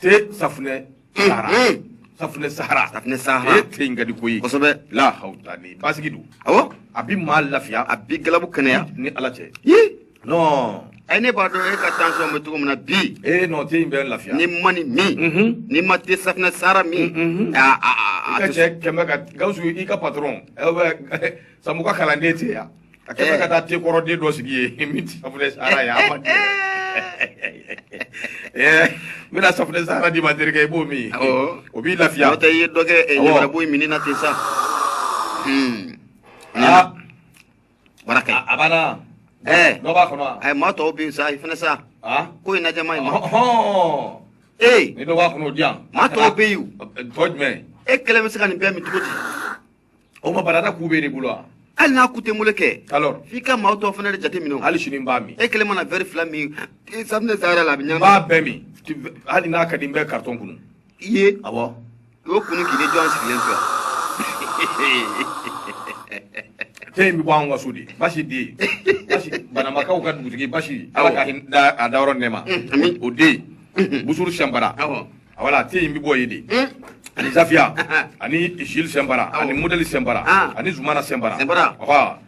te safunɛ sahara safunɛ sahara safunɛ sahara e te in ka di koyi kosɛbɛ la hawla ni basigi don awɔ a bi maa lafiya a bi galabu kɛnɛya ni ala cɛ yi non ɛ ne b'a dɔn e ka tension bɛ cogo min na bi e non te in bɛ lafiya n'i ma nin min n'i ma te safunɛ sahara min a a a ka cɛ kɛmɛ ka gawusu i ka patron samuka kalanden te yan A kɛ ka taa te kɔrɔ den dɔ sigi min tɛ safunɛ sara ye a n bɛna safunɛ sara d'i ma terikɛ i b'o min o b'i lafiya o tɛ i ye dɔ kɛ ko min na ten sa bara a banna dɔ b'a kɔnɔ a ye maa tɔw bin sa i fana sa ko in na jama in ma ee ni dɔ b'a kɔnɔ o di yan maa tɔw bɛ yen tɔ jumɛn e kelen bɛ se ka nin bɛɛ min cogo di o ma barada ku b'e de bolo wa hali n'a ku tɛ n bolo kɛ alors f'i ka maa tɔw fana de jate minɛ o. hali sini n b'a min e kelen mana vɛri fila min e safunɛ sahara la a bɛ n ɲagami b'a bɛɛ min Tu- hali n'a ka di n bɛ karitɔn kunu i ye awɔ o kunu k'i de jɔ an sigilen filɛ te in bɛ bɔ an ka so de basi den basi banambakaw ka dugutigi basi ala ka hin- da a dayɔrɔ nɛma ami. o den busuru sinpara awɔ voilà te in bɛ bɔ yen de hmm? ani zafiya ani isil sinpara ani modɛli sinpara ah. ani zumana sinpara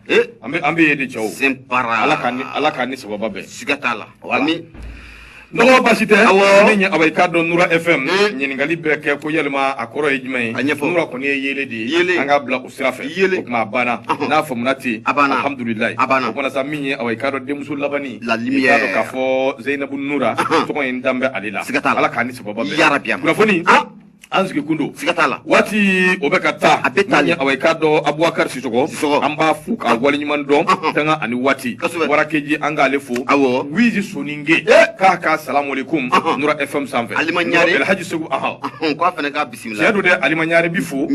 eh? an bɛ yen de cɛw ala k'a ni ala k'a ni sababa bɛn siga t'a la ami n dɔgɔ basi tɛ ne ɲɛ awa i k'a dɔn nura fm hmm? ɲininkali bɛ kɛ ko yalima a kɔrɔ ye jumɛn ye nura kɔni ye yeelen de ye an k'a bila sira fɛ yeelen o tuma a banna n'a faamuna ten a banna alhamdulilayi a banna o kumana sa min ye awa i k'a dɔn n denmuso labani la lumière i k'a dɔn k'a fɔ zeyinabu nura tɔgɔ in dalen bɛ ale la siga t'a la ala k'a ni sababa bɛn yarabi kunnafoni an sigi kun don siga t'a la waati o bɛ ka taa a bɛ taa awa i k'a dɔn abubakar sisɔgɔ sisɔgɔ an b'a fo k'a waleɲuman dɔn tanga ani waati warakeji an k'ale fo awɔ wizi soninke k'a ka salamu aleykum nura fm sanfɛ alima ɲare alhaji segu ahan k'a fana ka Tiɲɛ don dɛ Alima Ɲare bi fo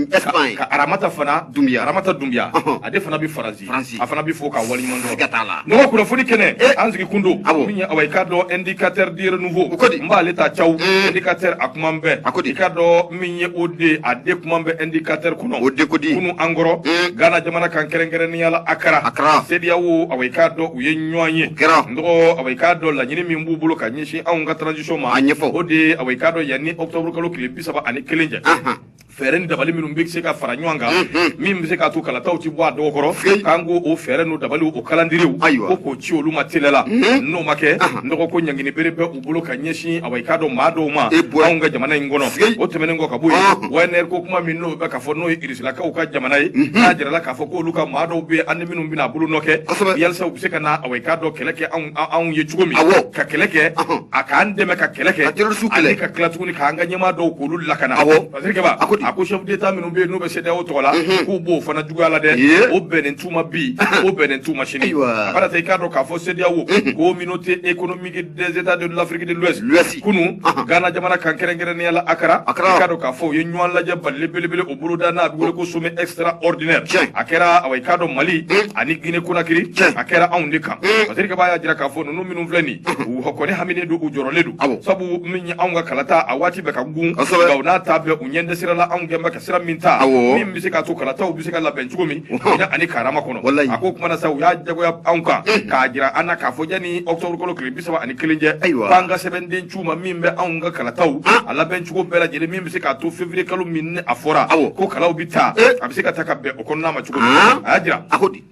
ka Aramata fana Dunbiya Aramata Dunbiya ale fana bɛ Faransi a fana bɛ fo k'a waleɲuman dɔn siga t'a la n dɔgɔ kunnafoni kɛnɛ eh. an sigi kun don min ye awa i k'a dɔn indicateur du renouveau o kɔni n b'ale ta cawu eh. indicateur a kuma bɛ a ko di i k'a dɔn min ye o de a de kuma bɛ indicateur kɔnɔ o de ko di kunu an kɔrɔ eh. Ghana jamana kan kɛrɛnkɛrɛnnenya la Akara Akara CEDEAO awa i k'a dɔn u ye ɲɔgɔn ye kɛra n dɔgɔ awa i k'a dɔn laɲini min b'u bolo ka ɲɛ sin anw ka transition ma, a ɲɛfɔ, o de ye awa i k'a dɔn yanni octobre kalo tile 31 cɛ, anhan fɛɛrɛ ni dabali minnu bɛ se ka fara ɲɔgɔn kan min bɛ se k'a to kalataw tɛ bɔ a dɔgɔ kɔrɔ k'an k'o o fɛɛrɛ n'o dabaliw o kalandiriw ko k'o ci olu ma teliya la n'o ma kɛ n dɔgɔ ko ɲangini bɛrɛ bɛ u bolo ka ɲɛsin awa i k'a dɔn maa dɔw ma anw ka jamana in kɔnɔ o tɛmɛnen kɔ ka bɔ yen Wagner ko kuma min n'o bɛ ka fɔ n'o ye Kaw ka jamana ye n'a jirala k'a fɔ k'olu ka maa dɔw bɛ an minnu bɛna bolo nɔ kɛ yasa u bɛ se ka na awa i k'a dɔn kɛlɛ kɛ anw ye cogo min ka kɛlɛ kɛ a k'an dɛmɛ ka kɛlɛ kɛ kɛlɛsu ale ka kɛlɛ tuguni k'an ka ɲɛmaa dɔw k'olu lakana a a ko a ko chef d'état minnu bɛ yen n'u bɛ CEDEAO tɔgɔ la k'u b'o fana juguya la dɛ o bɛnnen t'u ma bi o bɛnnen t'u ma sini i k'a dɔn k'a fɔ CEDEAO communauté é des états de l'Afrique de l'Ouest L'Ouest. kunu Ahan. Ghana jamana kan kɛrɛnkɛrɛnnenya la Accra Accra. i k'a dɔn k'a fɔ u ye ɲɔgɔn lajɛ balalen belebele o boloda n'a bɛ wele ko sommet extraordinaire Tiɲɛ. a kɛra awa i k'a dɔn Mali Mm. ani Guinée Conakry Tiɲɛ. a kɛra anw de kan Mm. Masiri Kaba y'a jira k'a fɔ ninnu minnu filɛ nin u kɔni haminen don u jɔrɔlen don Awɔ. sabu min ye anw ka kalata a waati bɛ ka gun Kosɛbɛ. nka o n'a ta bɛɛ u ɲɛ tɛ sira la anw kɛlen bɛ ka sira min ta min bɛ se k'a to kalataw bɛ se ka labɛn cogo min ani karama kɔnɔ a ko o tuma na sa u y'a jagoya anw kan k'a jira an na k'a fɔ yanni octobre kalo tile bi saba ani kelen cɛ k'an ka sɛbɛnden ci u ma min bɛ anw ka kalataw a labɛn cogo bɛɛ lajɛlen min bɛ se k'a to février kalo min a fɔra ko kalaw bɛ ta a bɛ se ka ta ka bɛn o kɔnɔna ma cogo min a y'a jira a ko di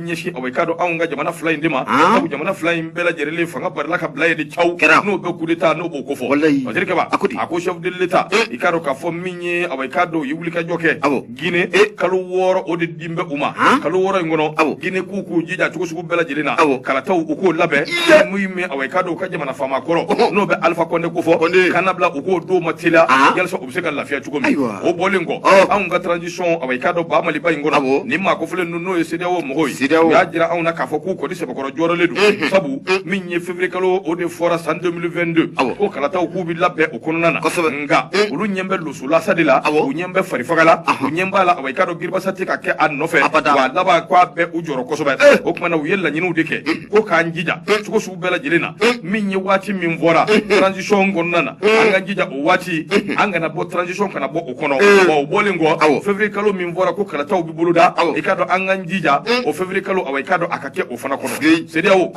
ɲɛsin awa i k'a dɔn anw ka jamana fila in de ma sabu jamana fila in bɛɛ lajɛlen fanga barila ka bila ye de caw kɛra n'o bɛ kudeta n'o b'o kofɔ Masiri Kaba a ko a ko chef de l'état i k'a dɔn k'a fɔ min ye awa i k'a dɔn u ye wulikajɔ kɛ gine kalo wɔɔrɔ o de dilen bɛ u ma kalo wɔɔrɔ in kɔnɔ gine k'u k'u jija cogo sugu bɛɛ lajɛlen na kalataw u k'o labɛn min bɛ awa i k'a dɔn u ka jamana faama kɔrɔ n'o bɛ alifa kɔnde kofɔ k'a labila u k'o don ma teliya bɛ se ka lafiya cogo min o bɔlen kɔ anw ka transition awa i k'a dɔn ba maliba in kɔnɔ ni maa kofɔlen ninnu n'o ye CEDEAO mɔgɔw ye u y'a jira anw na k'a fɔ k'u kɔni sɛbɛkɔrɔ jɔrɔlen don sabu min ye février kalo o de fɔra san 2022 ko kalataw k'u bɛ labɛn o kɔnɔna na nka olu ɲɛ bɛ losolasa de la u ɲɛ bɛ farifaga la u ɲɛ b'a la awa i k'a dɔn giribasa tɛ ka kɛ a nɔfɛ wa a laban k'a bɛ u jɔrɔ kosɛbɛ o tuma na u ye laɲiniw de kɛ ko k'an jija cogo sugu bɛɛ lajɛlen na min ye waati min fɔra transition kɔnɔna na an k'an jija o waati an kana bɔ transition kana bɔ o kɔnɔ o bɔlen kɔ février kalo min fɔra ko kalataw bɛ boloda i k'a dɔn an k'an jija o février kalo awa i k'a dɔn a ka kɛ o fana kɔnɔ CEDEAO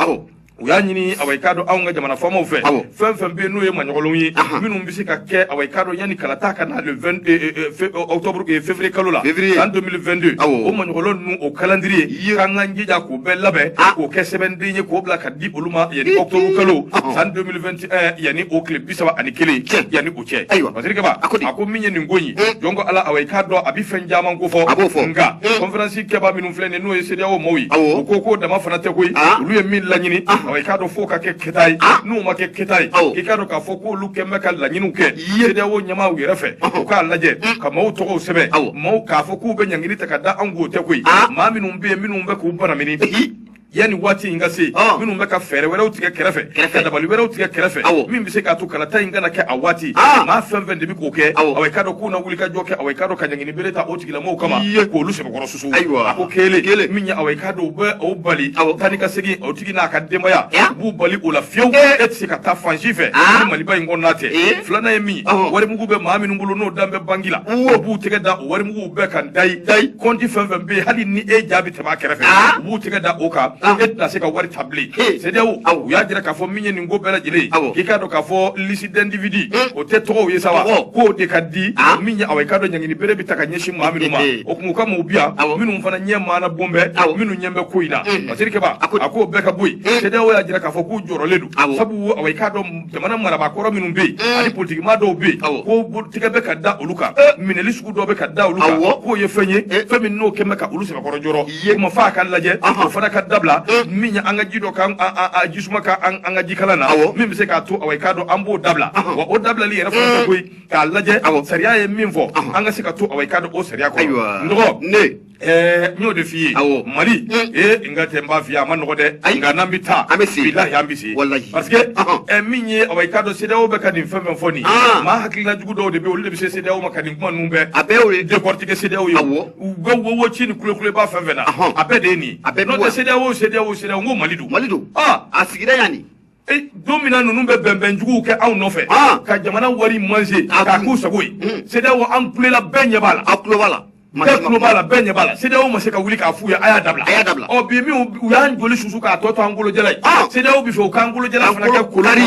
u y'a ɲini awa i k'a dɔn anw ka jamana faamaw fɛ fɛn fɛn bɛ yen n'o ye maɲɔgɔnlonw ye minnu bɛ se ka kɛ awa i k'a dɔn yanni kalata ka na le 22 euh, euh, euh, fe- octobre eh, février kalo la Février. san 2022 Awɔ. o maɲɔgɔnlɔ ninnu o calendrier Ye. k'an k'an jija k'o bɛɛ labɛn Ah. k'o kɛ sɛbɛnden ye k'o bila k'a di olu ma yanni Hi, octobre hi. kalo Ɔhɔn. san 2021 yanni o tile bi saba ani kelen Tiɲɛ. yanni o cɛ Ayiwa. Masiri Kaba A ko di? a ko min ye nin ko in ye Eh. jɔn ko ala awa i k'a dɔn a bɛ fɛn caman kofɔ A b'o fɔ. nka Eh. conférence kɛbaa minnu filɛ nin ye n'o ye CEDEAO maaw ye Awɔ. u ko k'o dama fana tɛ koyi Ah. olu ye min laɲini Ah. awa i k'a dɔn f'o ka kɛ keta ye Ah. n'u ma kɛ keta ye Awɔ. i k'a dɔn k'a fɔ k'olu kɛn bɛ ka laɲiniw kɛ Ye. CEDEAO ɲɛmaaw yɛrɛ fɛ u k'a lajɛ ka maaw tɔgɔw sɛbɛn Awɔ. maaw k'a fɔ k'u bɛ ɲangini ta ka da anw k'o tɛ koyi Ah. maa minnu bɛ yen minnu bɛ k'u banamini Ehi. yanni waati in ka se Ah. minnu bɛ ka fɛɛrɛ wɛrɛw tigɛ kɛrɛfɛ Kɛrɛfɛ. ka dabali wɛrɛw tigɛ kɛrɛfɛ Awɔ. min bɛ se k'a to kalata in kana kɛ a waati Ah. maa fɛn fɛn de bɛ k'o kɛ Awɔ. awa i k'a dɔn k'u na wulikajɔ kɛ awa i k'a dɔn ka ɲangini bere ta o tigilamɔgɔw kama Ye. k'olu sɛbɛkɔrɔ muso ayiwa a ko kelen kelen min ye awa i k'a dɔn u bɛ o bali awɔ taa ni ka segin o tigi n'a ka denbaya u b'u bali o la fewu e tɛ se ka taa fan si fɛ ni maliba in kɔnɔna tɛ filanan ye min warimugu bɛ maa minnu bolo n'o dan bɛ banki la o b'u tɛgɛ da o warimuguw bɛɛ kan dayi dayi kɔnti fɛn fɛn bɛ yen hali ni e ja bɛ tɛmɛ a kɛrɛfɛ u b'u tɛgɛ da o kan e tɛna se ka wari ta bilen CEDEAO u y'a jira k'a fɔ min ye nin ko bɛɛ lajɛlen ye k'i k'a dɔn k'a fɔ liste d'individus o tɛ tɔgɔw ye sa wa k'o de ka di min ye awa i k'a dɔn ɲangini bere bɛ ta ka ɲɛsin maa minnu ma o tuma u ka maaw bɛ yan minnu fana ɲɛ maana bon bɛ minnu ɲɛ bɛ ko in na masiri kɛbaa k'o bɛɛ ka bɔ yen CEDEAO y'a jira k'a fɔ k'u jɔrɔlen don sabu awa i k'a dɔn jamana marabaa kɔrɔ minnu bɛ yen ani politikimaa dɔw bɛ yen ko tigɛ bɛ ka da olu kan minɛli sugu dɔ bɛ ka da olu kan k'o ye fɛn ye fɛn min n'o kɛn bɛ ka olu sɛbɛkɔrɔ jɔrɔ ye ma fa k'a lajɛ o fana ka dabila min ye an ka ji dɔ kan a jisuma kɛ an ka jikalan na min bɛ se k'a to awa i k'a dɔn an b'o dabila wa o dabilali yɛrɛ fana tɛ koyi k'a lajɛ awa sariya ye min fɔ an ka se ka to awa i k'a dɔn o sariya kɔnɔ Ayiwa. n dɔgɔ Ne. ɛɛ n y'o de f'i ye Awɔ. mali ee n ka tɛ n b'a f'i ye a ma nɔgɔ dɛ Ayi. nka n'an bɛ taa An bɛ se. bilahi an bɛ se Walahi. parce que Ɔhɔn. ɛ, min ye awa i k'a dɔn CEDEAO bɛ ka nin fɛn fɛn fɔ nin Ah. maa hakilina jugu dɔw de bɛ yen, olu de bɛ se CEDEAO ma ka nin kuma ninnu bɛɛ A bɛɛ y'o ye. décortiquer CEDEAO ye Awɔ. u bɛ wowo ci ni kulekuleba fɛn fɛn na a bɛɛ de ye nin ye n'o tɛ CEDEAO CEDEAO CEDEAO n ko Mali don Mali don a sigira yan nin e, don min na ninnu bɛ bɛnbɛn juguw kɛ anw nɔfɛ ka jamana wari manger k'a k'u sago ye CEDEAO hmm. an kulela bɛɛ ɲɛ b'a la a tulo b'a la bɛɛ tulo b'a la bɛɛ ɲɛ b'a la CEDEAO ma se ka wuli k'a f'u ye a y'a dabila a y'a dabila ɔ bi min u y'an joli susu k'a tɔ to an kolojalan ye CEDEAO b'a fɛ u k'an kolojalan fana kɛ kolari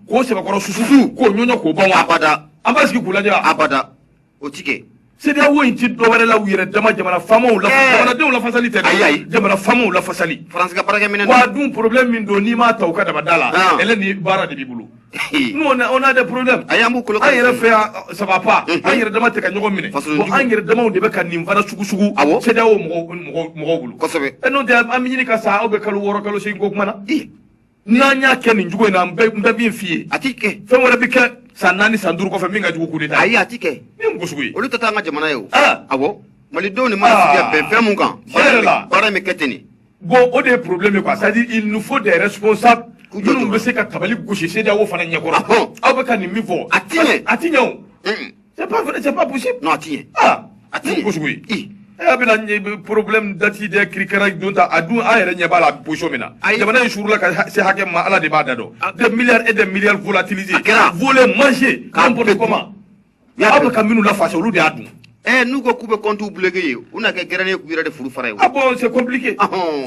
k'o sɛbɛkɔrɔ susu k'o ɲɔɲɔ k'o ban wa abada an b'a sigi k'u lajɛ abada o ti kɛ CEDEAO in ti dɔwɛrɛ la u yɛrɛ dama jamana faamaw la eh. jamanadenw lafasali tɛ ayi ayi jamana faamaw lafasali France ka baarakɛminɛn wa dun problème min don n'i m'a ta u ka dabada la ah. ɛlɛ ni baara de b'i bolo nous on a on a des problèmes ayi an b'u kolo an yɛrɛ fɛ yan ça va pas mhm. an yɛrɛ dama tɛ ka ɲɔgɔn minɛ bon an yɛrɛ damaw de bɛ ka nin fana sugusugu CEDEAO mɔgɔw mɔgɔw mɔgɔw bolo kosɛbɛ n'o tɛ an bɛ ɲini ka sa aw bɛ kalo wɔɔrɔ kalo seegin ko kuma na n'an y'a kɛ nin cogo in na n bɛ n bɛ min f'i ye a ti kɛ fɛn wɛrɛ bɛ kɛ san naani san duuru kɔfɛ min ka jugu kudeta ayi a ti kɛ min mɔgɔ sugu ye olu tɛ taa an ka jamana ye o Ah. awɔ malidenw ni mana sigi ka bɛn fɛn min kan Tiɲɛ yɛrɛ la. baara in bɛ kɛ ten de bon o de ye problème ye quoi c'est à dire il nous faut des responsables K'u jɔ minnu dɔrɔn. bɛ se ka tabali gosi CEDEAO fana ɲɛkɔrɔ Ahɔn. aw bɛ ka nin min fɔ A ti ɲɛ. a ti ɲɛ o Mm. C'est pas vrai, c'est pas possible. Non, tiens. Ah, attends. Ko sugu ye. I. E y'a bɛna ɲɛ- problème dati de kirikara don ta a dun an yɛrɛ ɲɛ b'a la position min na Ayi. jamana in suurula ka ha- se hakɛ min ma ala de b'a dan dɔn A- des milliards et des milliards volatilisés A kɛra. volés mangés K'a n'importe bɛɛ dun. comment Y'a aw bɛɛ bɛ ka minnu lafasa olu de y'a dun Eh, n'u ko k'u bɛ compte bloqué ye u na kɛ gɛrɛnen ye k'u yɛrɛ de furu fara ye a bon c'est compliqué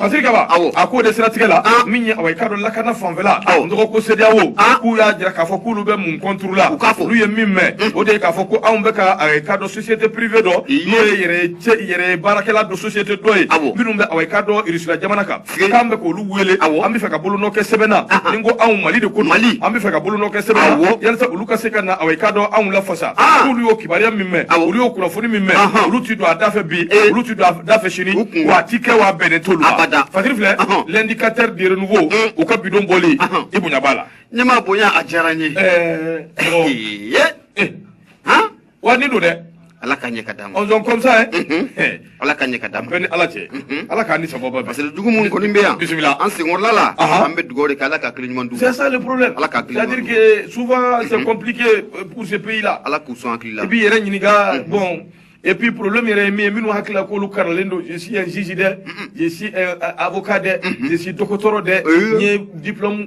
masiri kaba awɔ a k'o de siratigɛ la min ye awɔ i k'a dɔn lakana fanfɛla awɔ n dɔgɔ ko CEDEAO k'u y'a jira k'a fɔ k'olu bɛ mun contre la u k'a fɔ olu ye min mɛn o de ye k'a fɔ ko anw bɛ ka awɔ i k'a dɔn société privée dɔ n'o ye yɛrɛ ye cɛ yɛrɛ ye baarakɛla dɔ société dɔ ye awɔ minnu bɛ awɔ i k'a dɔn Irisila jamana kan tigɛ k'an bɛ k'olu wele awɔ an bɛ fɛ ka bolonɔ kɛ sɛbɛn na ni ko anw mali de ko mali an bɛ fɛ ka bolonɔ kɛ sɛbɛn na yalisa olu ka se ka na awɔ i k'a dɔn anw lafasa n'olu y'o kibaruya min mɛn olu y'o kunnafoni min mɛn olu ti don a da fɛ bi eh. olu ti don a da fɛ sini wa a ti kɛ wa a bɛnnen t'olu ma fakiri filɛ l'indicateur de renouveau eh. u ka bi don bɔli i bonya b'a la ne ma bonya a diyara n ye eh. wa ni don dɛ ala ka ɲɛ ka d'a ma ils sont comme ça ye mhm. eh. ala ka ɲɛ ka d'a ma bɛɛ ni ala cɛ mhm. ala k'a ni sababu bɛn parce que jugu minnu kɔni bɛ yan bi sisan an senkɔrɔla la an bɛ dugawu de kɛ ala ka hakili ɲuman d'u ma c'est ça le problème ala ka hakili ɲuman c'est à dire que souvent c'est mhm. compliqué euh, pour ce pays là ala k'u sɔn hakili la i b'i yɛrɛ ɲininka bon et puis problème yɛrɛ ye min ye minnu hakili la k'olu karanlen don je suis un juge dɛ je suis un avocat dɛ je suis dɔgɔtɔrɔ dɛ n ye diplôme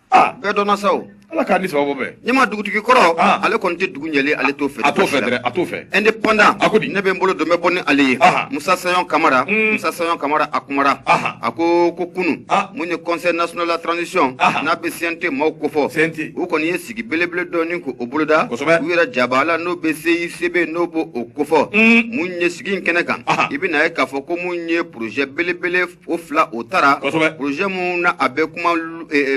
aa bɛɛ dɔnna sa o ala k'a ni sababu bɛn ɲɛma dugutigi kɔrɔ Ah. ale kɔni tɛ dugu ɲɛli ale t'o fɛ a t'o fɛ dɛrɛ a t'o fɛ indépendant A ko di? ne bɛ n bolo don bɛ bɔ ni ale ye Aha. musa sayon kamara Mm. musa sayon kamara a kumara Aha. a ko ko kunun Ah. mun ye conseil national de la transition Aha. n'a bɛ cnt maaw kofɔ CNT. u kɔni ye sigi belebele dɔ ni ko o boloda Kosɛbɛ. u yɛrɛ jaba la n'o bɛ cicb n'o bɛ o kofɔ Mm. mun ye sigi in kɛnɛ kan Aha. i bɛna ye k'a fɔ ko mun ye projet belebele o fila o taara projet mun na a bɛ kuma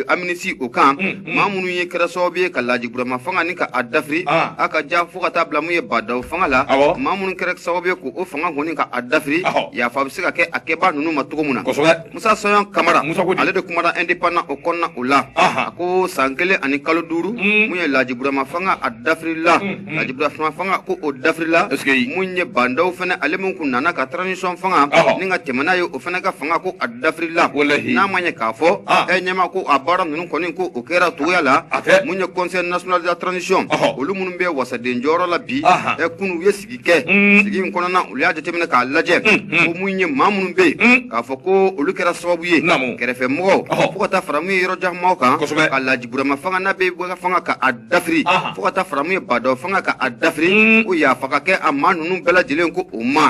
amnistie o kan maa minnu ye kɛra sababu ye ka Laji Burama fanga ni ka a dafiri a ka jan fo ka taa bila mun ye Ba Ndaw fanga la maa minnu kɛra sababu ye ko o fanga kɔni ka a dafiri yafa bɛ se ka kɛ a kɛbaa ninnu ma cogo min na musa sayon kamara ale de kumana indépendant o kɔnɔna o la a ko san kelen ani kalo duuru mun ye Laji Burama fanga a dafirila Laji Burama fanga ko o dafirila mun ye Ba Ndaw fana ale min kun nana ka transition fanga ni ka tɛmɛna ye o fana ka fanga ko a dafirila n'a ma ye k'a fɔ e ɲɛma ko a baara ninnu kɔni ko o kɛra cogoya la mun ye conseil national de la transition olu minnu bɛ wasaden jɔyɔrɔ la bi ɛ kunun u ye sigi kɛ sigi in kɔnɔna u y'a jateminɛ k'a lajɛ ko mun ye maa minnu bɛ yen k'a fɔ ko olu kɛra sababu ye kɛrɛfɛmɔgɔ fo ka taa fara mun ye yɔrɔ jan maaw kan ka Laji Burama fanga bɛ fanga ka dafiri fo ka taa fara mun ye badaw fanga ka a dafiri ko yafa ka kɛ a maa ninnu bɛɛ lajɛlen ko u ma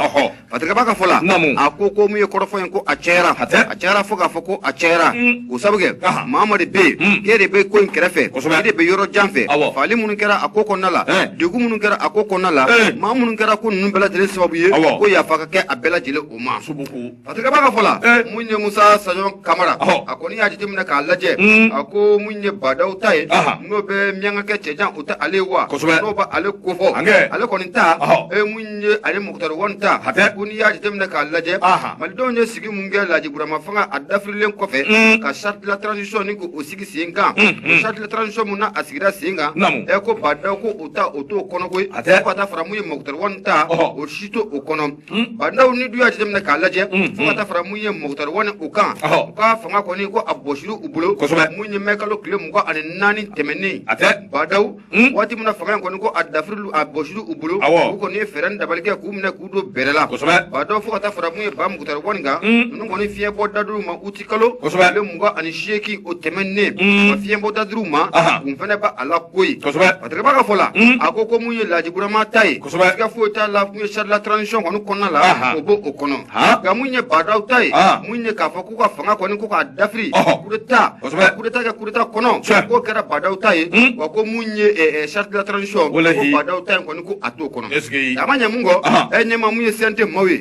hatɛ ka b'a ka fɔ la a ko ko mun ye kɔrɔfɔ ye ko a cayara a cayara fo k'a fɔ ko a cayara o sabu kɛ maa maa de bɛ yen k'e de bɛ ko in kɛrɛfɛ e de bɛ yɔrɔ jan fɛ faali minnu kɛra a ko kɔnɔna la degun minnu kɛra a ko kɔnɔna la maa minnu kɛra ko ninnu bɛɛ lajɛlen sababu ye ko yafa ka kɛ a bɛɛ lajɛlen o ma Hatɛ ka b'a ka fɔ la ee mun ye Musa Sayɔn Kamara ɔhɔ a kɔni y'a jateminɛ k'a lajɛ uun a ko mun ye Badawu ta ye anhan n'o bɛ Miyankakɛ cɛjan o tɛ ale ye wa kosɛbɛ n'u bɛ ale kofɔ hankɛɛ ale kɔni ta ɔhɔ ee mun ye ale Mukutari Wan ta hatɛ ko n'i y'a jateminɛ k'a lajɛ anhan Malidenw ye sigi mun kɛ Laaji Burama fanga a dafirilen kɔfɛ uun ka charte de la transition nin k'o o sigi sen kan unhun o charte de la transition mun n'a a sigira sen kan naamu ee ko Badawu ko o ta o t'o kɔnɔ koyi hatɛ fo ka taa fara mun ye Mukutari Wan ta ɔhɔ o si t'o o kɔnɔ badaw n'i dun y'a jateminɛ k'a lajɛ fo ka taa fara mun ye mukutari wani u kan u ka fanga kɔni ko a bɔsira u bolo mun ye mɛ kalo tile mugan ani naani tɛmɛnen badaw waati min na fanga in kɔni ko a dafiri a bɔsira u bolo u kɔni ye fɛɛrɛ dabali kɛ k'u minɛ k'u don bɛrɛ la badaw fo ka taa fara mun ye ba mukutari wani kan ninnu kɔni fiɲɛbɔda dira u ma u kalo tile mugan ani seegin o tɛmɛnnen ka fiɲɛbɔda d'u ma kun fana bɛ a la koyi ka b'a ka fɔ la a ko ko mun ye laji burama ta ye ka foyi t'a la ye charte de la transition kɔni kɔnɔna la o b'o kɔnɔ nka mun ye badaw ta ye mun ye k'a fɔ k'u ka fanga kɔni ko k'a dafiri coup d'état coup d'état kɛ coup d'état kɔnɔ k'o kɛra badaw ta ye wa ko mun ye charte de la transition badaw ta in kɔni ko a t'o kɔnɔ a ma ɲɛ mun kɔ e ɲɛma mun ye CNT maaw ye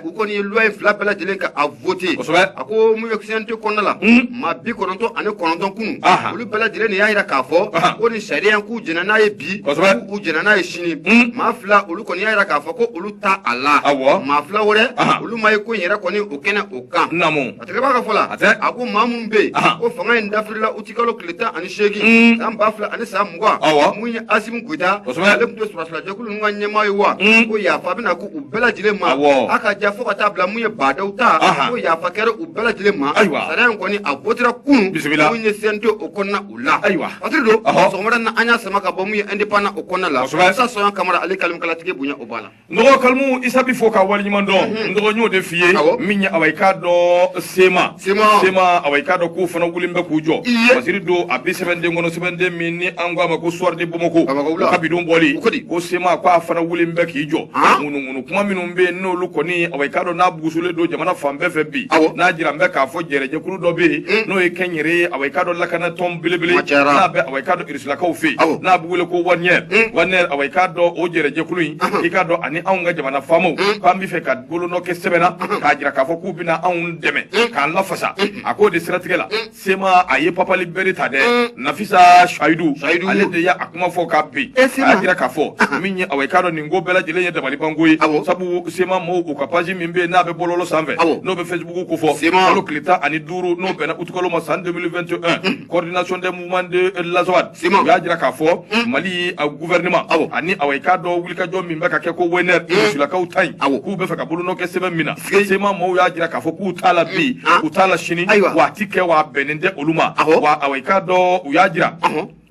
u kɔni ye loi in fila bɛɛ lajɛlen ka voté kosɛbɛ a ko mun ye CNT kɔnɔna la maa bi kɔnɔntɔn ani kɔnɔntɔn kunun olu bɛɛ lajɛlen de y'a jira k'a fɔ ko nin sariya in k'u jɛnna n'a ye bi k'u u jɛnna n'a ye sini maa fila olu kɔni y'a jira k'a fɔ ko olu t'a la awɔ maa fila wɛrɛ olu ma ye ko in yɛrɛ kɔni o kɛnɛ o kan naamu hatɛ ka b'a ka fɔ la hatɛ a ko maa minnu bɛ yen ko fanga in dafirila u kalo tile tan ani seegin san ba fila ani san mugan mun ye asimi goyita ale tun ye sɔrɔdasijɛkulu ninnu ka ɲɛmaa ye wa ko yafa bɛna kɛ u bɛɛ lajɛlen ma a k'a ta fo ka taa bila mun ye badaw ta ko yafa kɛra u bɛɛ lajɛlen ma sariya in kɔni a wotera kunun mun ye CNT o kɔnɔna o la fatiri don sɔgɔmada na an y'a sama ka bɔ mun ye indépendant o kɔnɔna la musa sayɔn kamara ale kalimukalatigi bonya o b'a la N dɔgɔ Karimu Isa b'i fo ka waleɲuman dɔn n dɔgɔ y'o de f'i ye min ye awa i k'a dɔn CMA CMA awa i k'a dɔn k'u fana wulilen bɛ k'u jɔ masiri don a bi sɛbɛnden kɔnɔ sɛbɛnden min ni an ko a ma ko Soir de Bamako ka bi don bɔli ko CMA k'a fana wulilen bɛ k'i jɔ ŋunuŋunu kuma minnu bɛ yen n'olu kɔni awa i k'a dɔn n'a bugusolen don jamana fan bɛɛ fɛ bi n'a jiralen bɛ k'a fɔ kɛlɛjɛkulu dɔ bɛ yen n'o ye Wagner ye awa i k'a dɔn lakanatɔn belebele n'a bɛ awa i k'a dɔn silakaw fɛ yen n'a bɛ wele ko Wagner hmm. Wagner awa i k'a dɔn o jɛrɛ jɛkulu in i k'a dɔn ani anw ka jamana faamaw hmm. k'an bɛ fɛ ka bolonɔ kɛ sɛbɛn na hmm. k'a jira k'a fɔ k'u bɛna anw dɛmɛ k'an lafasa a k'o de siratigɛ la sema a ye papali bere ta dɛ nafisa suwayidu ale de y'a kuma fɔ k'a bin a y'a jira k'a fɔ min ye awa i k'a dɔn nin ko bɛɛ lajɛlen ye dabalibanko ye sabu sema maaw u ka paji min bɛ yen n'a bɛ bɔlɔlɔ sanfɛ n'o bɛ facebook kofɔ kalo tile tan ni duuru n'o bɛnna utukalo ma san 2021 coordination des ments de l'Azawad sema y'a jira k'a fɔ mm. mali a gouvernement awo ani awa i k'a dɔn wulikajɔ min bɛ ka kɛ ko Wagner mm. risilakaw ta nin awo k'u bɛ fɛ ka bolonɔ kɛ sɛbɛn min na sema mɔɔw y'a jira k'a fɔ k'u t'a la bi mm. ah. u t'a la sini wa a ti kɛ wa a bɛnnen tɛ olu ma wa awa i k'a dɔn u y'a jira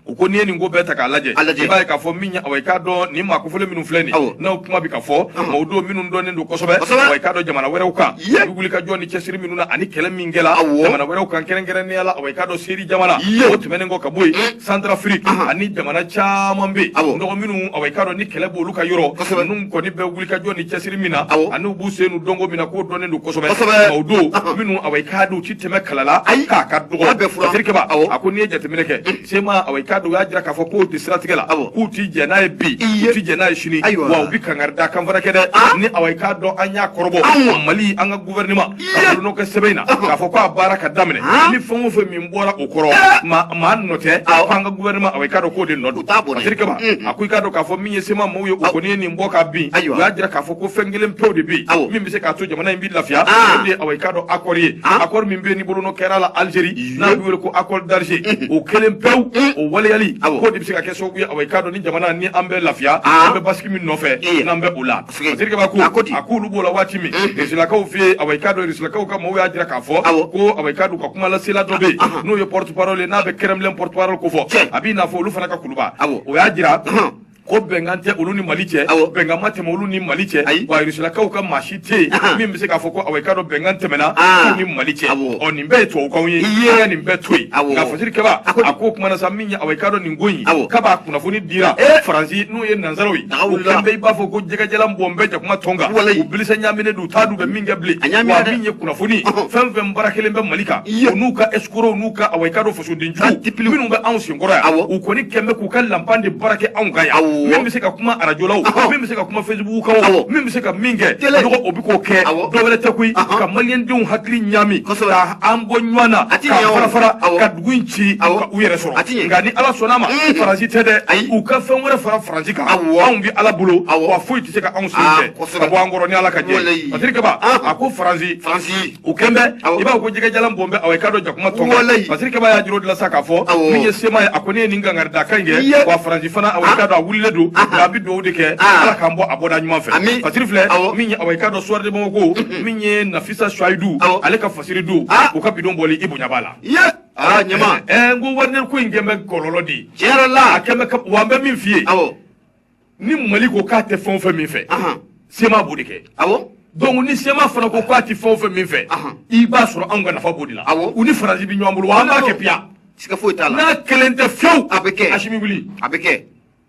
u ko n'i ye nin ko bɛɛ ta k'a lajɛ i b'a ye k'a fɔ min awa i k'a dɔn nin maa kofɔlen minnu filɛ nin n'u kuma bɛ ka fɔ mɔgɔw don minnu dɔnnen don kosɛbɛ awa i k'a dɔn jamana wɛrɛw kan u bɛ wulikajɔ ni cɛsiri minnu na ani kɛlɛ min jamana wɛrɛw kan kɛrɛnkɛrɛnnenya la awa i k'a dɔn siri jamana o tɛmɛnen kɔ ka bɔ yen Centrafrique ani jamana caman bɛ yen dɔgɔ minnu awa i k'a dɔn ni kɛlɛ b'olu ka yɔrɔ ninnu kɔni bɛ wulikajɔ ni cɛsiri min na ani u b'u sen don ko min na k'u dɔnnen don kosɛbɛ o don minnu awa i k'a dɔn u ti tɛmɛ kala la k'a ka dɔgɔ siri kɛba a ko n'i ye jateminɛ kɛ sema awa i k'a dɔn u y'a jira k'a fɔ k'o de siratigɛ la k'u ti jɛ n'a ye bi u ti jɛ n'a ye sini wa u bɛ kangaridakan fana kɛ dɛ ni awa i k'a dɔn an y'a kɔrɔbɔ mali an ka gouvernement nɔ kɛ sɛbɛn na k'a fɔ k'a baara ka daminɛ ni fɛn o fɛn min bɔra o kɔrɔ maa nɔ tɛ k'an ka gouvernement awa i k'a dɔn k'o de nɔ don Masiri Kɛba a ko i k'a dɔn k'a fɔ min ye sema maaw ye o kɔni ye nin bɔ ka bin u y'a jira k'a fɔ ko fɛn kelen pewu de bɛ yen min bɛ se k'a to jamana in bɛ lafiya o de ye awa i k'a dɔn accord ye accord min bɛ yen ni bolonɔ kɛra a la Algérie n'a bɛ wele ko accord d'Alger o kelen pewu o waleyali k'o de bɛ se ka kɛ sababu ye awa i k'a dɔn ni jamana ni an bɛ lafiya an bɛ basigi min nɔfɛ n'an bɛ o la a k'olu b'o la waati min risilakaw fɛ yen awa i k'a dɔn risilakaw ka maaw y'a jira k'a fɔ ko awa i k'a dɔn ka kumalasela dɔ bɛ yen n'o ye porte parole ye n'a bɛ Kremlin porte parole kofɔ a b'i n'a fɔ olu fana ka kuluba o y'a jira ko bɛnkan tɛ olu ni mali cɛ bɛnkan ma tɛmɛ olu ni mali cɛ wa risilakaw ka maa si tɛ yen min bɛ se k'a fɔ ko awa i k'a dɔn bɛnkan tɛmɛna ni mali cɛ ɔ nin bɛɛ ye tubabukanw ye nin bɛɛ to yen nka fɔsiri kɛba a k'o kumana sa min ye awa i k'a dɔn nin ko in Awɔ. kab'a kunnafoni dira Eh. faransi n'o ye nansaraw ye Daga o wulila. kɛlen bɛ i b'a fɔ ko jɛgɛjalan bɔn bɛ jakuma tɔn kan Walayi. u bilisa ɲaaminen don u t'a dɔn u bɛ min kɛ bilen A ɲaamina wa dɛ. min ye kunnafoni ye Ɔhɔn. fɛn fɛn baara kɛlen bɛ mali kan Iya. u n'u ka escrocs n'u ka awa i k'a dɔn fasoden Ka jugu tipiliw. minnu bɛ anw senkɔrɔ yan Awɔ. u kɔni kɛlen bɛ k'u ka lanpan de baara kɛ anw kan yan Awɔ. min bɛ se ka kuma arajo la o Ɔhɔn. min bɛ se ka kuma facebook kan o Awɔ. min bɛ se ka min kɛ Tele. dɔgɔ o bɛ k'o kɛ Awɔ. dɔwɛrɛ tɛ koyi Ɔhɔn. ka maliyɛndenw hakili ɲaami Kosɛbɛ. ka an bɔ ɲɔgɔn na A ti ka ɲɛ o. fara fara Awɔ. ka dugu in ci awɔ u yɛrɛ sɔrɔ a ti ɲɛ nka ni ala sɔnna a ma mm. faransi tɛ dɛ ayi u ka fɛn wɛrɛ fara faransi kan awɔ anw bɛ ala bolo awɔ wa foyi tɛ se ka anw sen ah, fɛ ka bɔ an kɔrɔ ni ala ka jɛ fasiri kaba ah. a ko faransi faransi u kɛlen bɛ i b'a ko jɛgɛjalan bɔn bɛ awɔ i k'a dɔn jakuma tɔn kan fasiri kaba y'a jiro dilan sa k'a fɔ min ye sema ye a ko ne ye nin kankarida kan kɛ wa faransi fana awɔ i ah. k'a dɔn a wulilen don nka a bɛ dugawu de kɛ ala k'an bɔ a bɔda ɲuman fɛ fasiri filɛ min ye awɔ i k'a dɔn suwari de bamakɔ ko min ye nafisa suwayidu ale ka fasiri don u ka bidon bɔli i bonya b'a la ye aa ɲama ɛɛ n ko wagner ko in kɛ bɛ kɔlɔlɔ de ye tiɲɛ yɛrɛ la a kɛ bɛ ka wa n bɛ min f'i ye awɔ ni mali ko k'a tɛ fɛn o fɛn min fɛ ahan sema b'o de kɛ awɔ donc ni sema fana ko k'a tɛ fɛn o fɛn min fɛ Ahan. i b'a sɔrɔ anw ka nafa b'o de la Awɔ. u ni faransi bɛ ɲɔgɔn bolo wa an b'a kɛ piyan siga foyi t'a la n'a kelen tɛ fiyewu A bɛ kɛ. asimi wuli a bɛ kɛ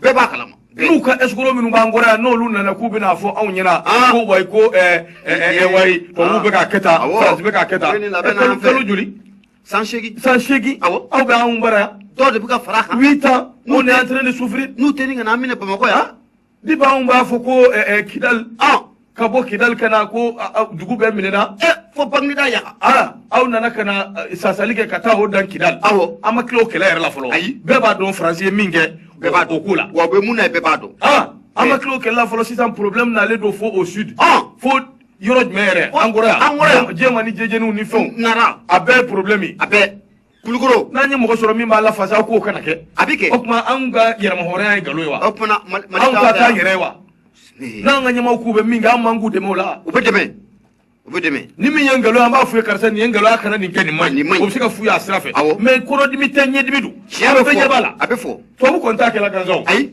bɛɛ b'a kalama n'u ka escroc minnu b'an kɔrɔ yan n'olu nana k'u bɛna fɔ anw ɲɛna ah. ko wayi ko eh, eh, eh, wayi tubabuw ah. bɛ k'a kɛ tan faransi bɛ k'a kɛ tan kalo joli san seegin san seegin awɔ aw bɛ anw bara yan dɔ de bɛ ka fara a kan huit ans n'u tɛ en train de souffrir n'u tɛ ni ka na an minɛ bamakɔ yan ah. ni b'anw b'a fɔ ko kidali ka bɔ kidali ka na ko dugu bɛɛ minɛna eh, fo bangida yaga ah, aw nana ka na eh, sasali kɛ ka taa o dan kidali awɔ an ma tila o kɛlɛ yɛrɛ la fɔlɔ ayi bɛɛ b'a dɔn faransi ye min kɛ bɛɛ b'a dɔn ko la wa bɛ mun na ye bɛɛ b'a dɔn ah, an ma eh. tila o kɛlɛ la fɔlɔ sisan problème nalen don fo au sud ah. fo yɔrɔ jumɛn yɛrɛ an kɔrɔ yan an kɔrɔ yan jɛma ni jijɛniw ni fɛnw nara a bɛɛ ye problème ye a bɛɛ kulikoro n'an ye mɔgɔ sɔrɔ min b'an lafasa aw k'o kana kɛ a bɛ kɛ o tuma anw ka yɛrɛmahɔrɔnya ye nkalon ye wa o tuma Mali anw ka taa yɛrɛ ye wa n'an ka ɲɛmaaw k'u bɛ min kɛ an man k'u dɛmɛ o la u bɛ dɛmɛ u bɛ dɛmɛ ni min ye nkalon an b'a f'u ye karisa nin ye nkalon a kana nin kɛ nin ma ɲi o bɛ se ka f'u ye a sira fɛ mais kɔnɔdimi tɛ ɲɛdimi don tiɲɛ bɛ fɔ a bɛ fɔ tubabu kɔni t'a kɛla gansan ayi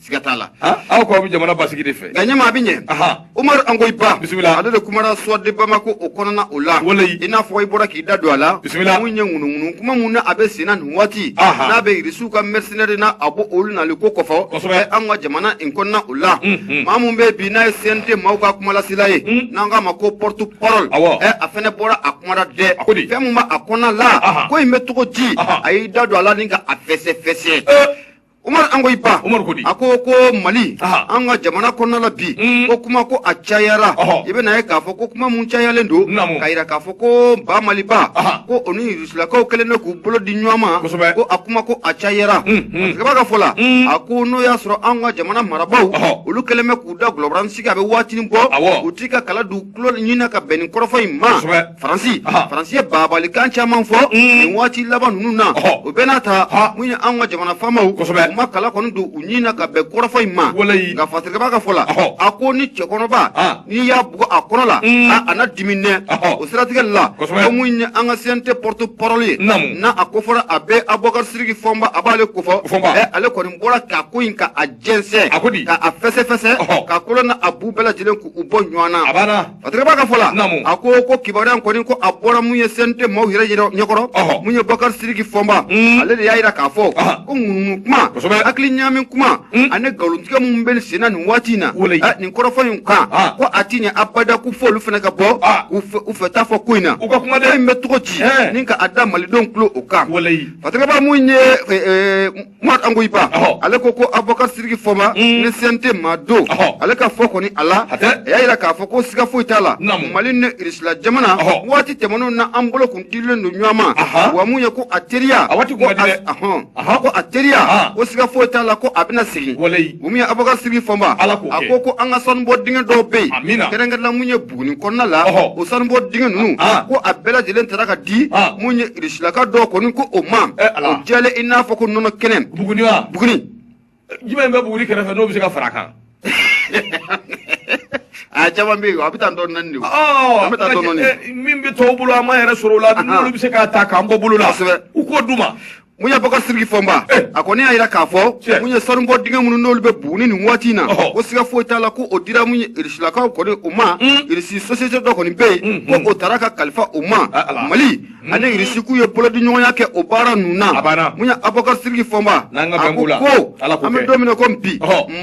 siga t'a la ah, aw ko aw bɛ jamana basigi de fɛ nka ɲɛmaa bɛ ɲɛ umaru an ko i ba bisimila ale de kumara suwari de bamako o kɔnɔna o la walayi i n'a fɔ i bɔra k'i da don a la bisimila mun ye ŋunuŋunu kuma mun na a bɛ senna nin waati n'a bɛ irisiw ka mɛrɛsɛnɛri na a b'o olu nali ko kɔfɔ kosɛbɛ an ka jamana in kɔnɔna o la maa mun bɛ bi n'a ye cnt maaw ka kumalasela ye n'an k'a ma ko porte parole ɛ a fɛnɛ bɔra a kumara dɛ fɛn mun bɛ a kɔnɔna la ko in bɛ cogo di a y'i da don a la ni ka a fɛsɛfɛsɛ Umaru an ko i ba Umaru ko di a ko ko Mali an ka jamana kɔnɔna la bi mm. ko kuma ko a cayara i bɛ na ye k'a fɔ ko kuma mun cayalen don k'a jira k'a fɔ ko ba Maliba ko u ni Urusilakaw kɛlen bɛ k'u bolo di ɲɔgɔn ma ko a kuma ko a cayara mm, mm. masakɛba ka fɔ la a ko n'o y'a sɔrɔ an ka jamana marabaaw olu kɛlen bɛ k'u da gulɔbaranin sigi a bɛ waatinin bɔ u t'i ka kala d'u tulo ɲinina ka bɛn nin kɔrɔfɔ in ma faransi faransi ye babalikan caman fɔ nin waati laban ninnu na o bɛɛ n'a ta mun ye an ka jamana faamaw u ma kala kɔni don u ɲin na ka bɛn kɔrɔfɔ in ma nka fatirikɛba ka fɔ la a ko ni cɛkɔrɔba n'i y'a bugɔ a kɔrɔ la a na dimi nɛ o siratigɛ la ko mun ye an ka CNT porte-parole ye n'a kofɔra a bɛ abubakar siriki fɔnba a b'ale ko fɔ ɛ ale kɔni bɔra k'a ko in ka a jɛnsɛn ka a fɛsɛfɛsɛ k'a kolo n'a bu bɛɛ lajɛlen k'u bɔ ɲɔgɔn na A tora ka fɔ la a ko ko kibaruya kɔni ko a bɔra mun ye CNT maaw yɛrɛ ɲɛkɔrɔ mun ye bakari siriki fɔnba ale de y'a jira k'a fɔ ko ŋunuŋunu kuma hakili ɲaami kuma ani nkalontigɛ minnu bɛ senna nin waati in na nin kɔrɔfɔ in kan ko a tɛ ɲɛ abada ko fo olu fana ka bɔ u fɛ ta fɔ ko in na u ka kuma in bɛ cogo di ni ka a da malidenw tulo kan a mun ye Mori Kanku i ba, ale ko ko Abubakari Sidiki Fɔnba, ni CNT maa don, ale ka fɔ kɔni a la, a y'a jira k'a fɔ ko siga foyi t'a la, Mali ni Irisila jamana, waati tɛmɛnenw na an bolo kun dilen don ɲɔgɔn ma, wa mun ye ko a teriya, ko siga foyi t'a la ko a bɛna segin, mun ye Abubakari Sidiki Fɔnba, a ko ko an ka sanubɔ dingɛ dɔw bɛ yen, kɛrɛnkɛrɛnnenya la mun ye Buguni kɔnɔna la o sanubɔ dingɛ ninnu ko a bɛɛ lajɛlen taara ka di mun ye risilaka dɔ kɔni ko o ma o jɛlen i n'a fɔ ko nɔnɔ kɛnɛ bugun bugun juma in bɛ buguni kɛrɛfɛ n'o bɛ se ka fara kan a caman bɛ yen a bɛ taa dɔn naani bɛ taa dɔn min bɛ tɔw bolo a ma yɛrɛ sɔrɔ o la bɛ se ka ta k'an bɔ bolo la u k'o dun ma mun ye bɔkar siriki fɔnba eh. a kɔni y'a jira k'a fɔ mun ye sanubɔ dingɛ minnu n'olu bɛ buguni nin waati in na ko siga foyi t'a la ko o dira mun ye irisilakaw kɔni u ma. irisi sosiyete dɔ kɔni bɛ yen. ko o taara ka kalifa u ma. mali ani irisi k'u ye bolodiɲɔgɔnya kɛ o baara ninnu na mun ye abɔkar siriki fɔnba a ko ko an bɛ don min na ko bi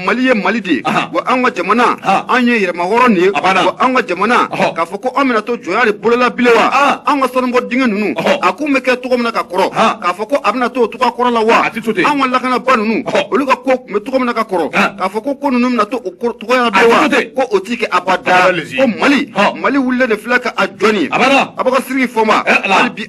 mali ye mali de ye wa an ka jamana an ye yɛrɛmahɔrɔn ye wa an ka jamana k'a fɔ ko an bɛna to jɔnya de bolo la bilen wa an ka sanubɔ dingɛ ninnu a kun bɛ kɛ cogo min na ka kɔrɔ k'a fɔ ko a bɛna to cogoya kɔrɔ la wa an ka lakanabaa ninnu olu ka ko tun bɛ cogo min na ka kɔrɔ k'a fɔ ko ko ninnu bɛna to o cogoya bilen wa ko o tɛ kɛ abada ko mali mali wulilen de filɛ ka a jɔ ni abakar siriki fɔnba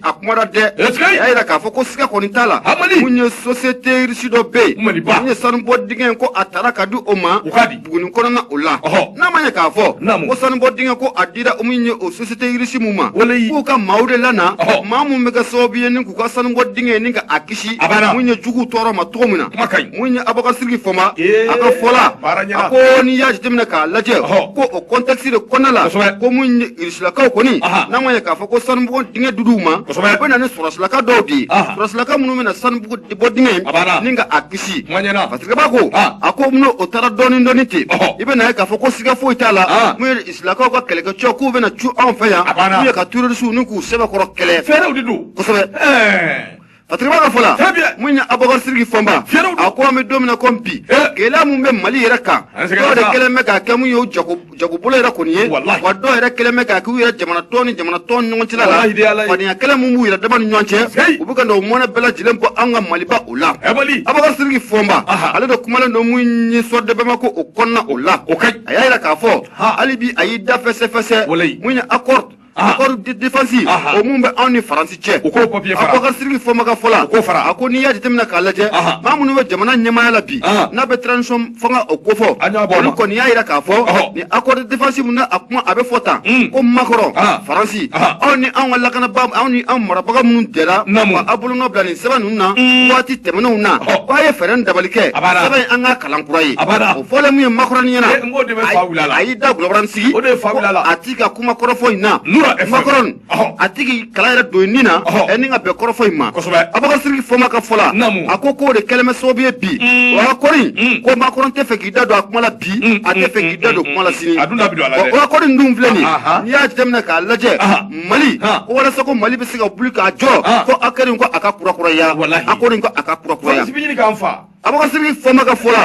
a kuma dɛ y'a jira k'a fɔ ko siga kɔni t'a la mun ye sosiyete risi dɔ bɛ yen mun ye sanubɔ dingɛ ko a taara ka di o ma buguni kɔnɔna o la n'a m'a ye k'a fɔ ko sanubɔ dingɛ ko a dira mun ye o sosiyete risi min ma k'u ka maaw de lana maa min bɛ kɛ sababu ye ni k'u ka sanubɔ dingɛ ni ka a kisi mun ye juguw tɔɔrɔ ma cogo min na mun ye abakar siriki fɔnba a ka fɔ la a ko n'i y'a jateminɛ k'a lajɛ ko o kɔntɛkisi de kɔnɔna la ko mun silakaw kɔni n'an ko ye k'a fɔ ko sanubɔgɔ dingɛ di u ma u bɛ na ni sɔrɔsilaka dɔw de ye sɔrɔsilaka minnu bɛna sanubɔgɔ bɔ dingɛ ni ka a kisi fatigaba ko a ko n'o o taara dɔɔni dɔɔni ten i bɛ na ye k'a fɔ ko siga foyi t'a la mun ye irisilakaw ka kɛlɛkɛcɛw k'u bɛna cun anw fɛ yan n'u ye ka terrorisiw ni k'u sɛbɛkɔrɔ kɛlɛ fɛɛrɛw de don kosɛbɛ Patriba ka fɔla mun ye Abubakar Sidiki Fɔnba a ko an bɛ don min na comme bi gɛlɛya min bɛ Mali yɛrɛ kan dɔw de kɛlen bɛ k'a kɛ min ye u jago jagobolo yɛrɛ kɔni ye wa dɔw yɛrɛ kɛlen bɛ k'a kɛ u yɛrɛ jamanatɔn ni jamanatɔn ni ɲɔgɔn cɛla la fadenya kɛlɛ min b'u yɛrɛ dama ni ɲɔgɔn cɛ u bɛ ka na o mɔnɛ bɛɛ lajɛlen bɔ an ka Maliba o la Abubakar Sidiki Fɔnba ale de kumalen don min ye Soir de Bamako o kɔnɔna o la a y'a jira k'a fɔ hali bi a y'i da fɛsɛfɛsɛ mun ye accord accord de défense o mun bɛ anw ni faransi cɛ u k'o papier fara abubakar sidiki fɔnba ka fɔla u k'o fara a ko n'i y'a jateminɛ k'a lajɛ maa minnu bɛ jamana ɲɛmaaya la bi n'a bɛ transition fanga o kofɔ olu kɔni y'a jira k'a fɔ ni accord de défense mun na a kuma a bɛ fɔ tan ko makɔrɔn faransi aw ni anw ka lakanabaa anw ni anw marabaga minnu jɛra ka aw bolonɔ bila nin sɛbɛn ninnu na waati tɛmɛnenw na ko a ye fɛɛrɛ ni dabali kɛ sɛbɛn in an k'a kalan kura ye o fɔlen min ye makɔrɔni ɲɛna a y'i dagolo baranin sigi ka kuma kɔrɔfɔ in na Nura FM. makɔrɔn Ɔhɔ. a tigi kala yɛrɛ don nin na Ɔhɔ. ɛ nin ka bɛn kɔrɔfɔ in ma Kosɛbɛ. abubakar sidiki fɔnba ka fɔ la Naamu. a ko k'o de kɛlen bɛ sababu ye bi Mm. accord in Mm. ko makɔrɔn tɛ fɛ k'i da don a kuma la bi Mm, a tɛ fɛ mm, k'i da don mm, kuma la mm. sini A dun da bɛ don a la dɛ. accord in dun filɛ nin Aha. n'i y'a jateminɛ k'a lajɛ Aha. mali Ha. ko walasa ko mali bɛ se ka wuli k'a jɔ Ha. fɔ accord in ko a ka kurakuraya Walahi. accord in ko a ka kurakuraya Fɔlɔsibili k'an fa Abubakar sidiki fɔnba ka fɔ la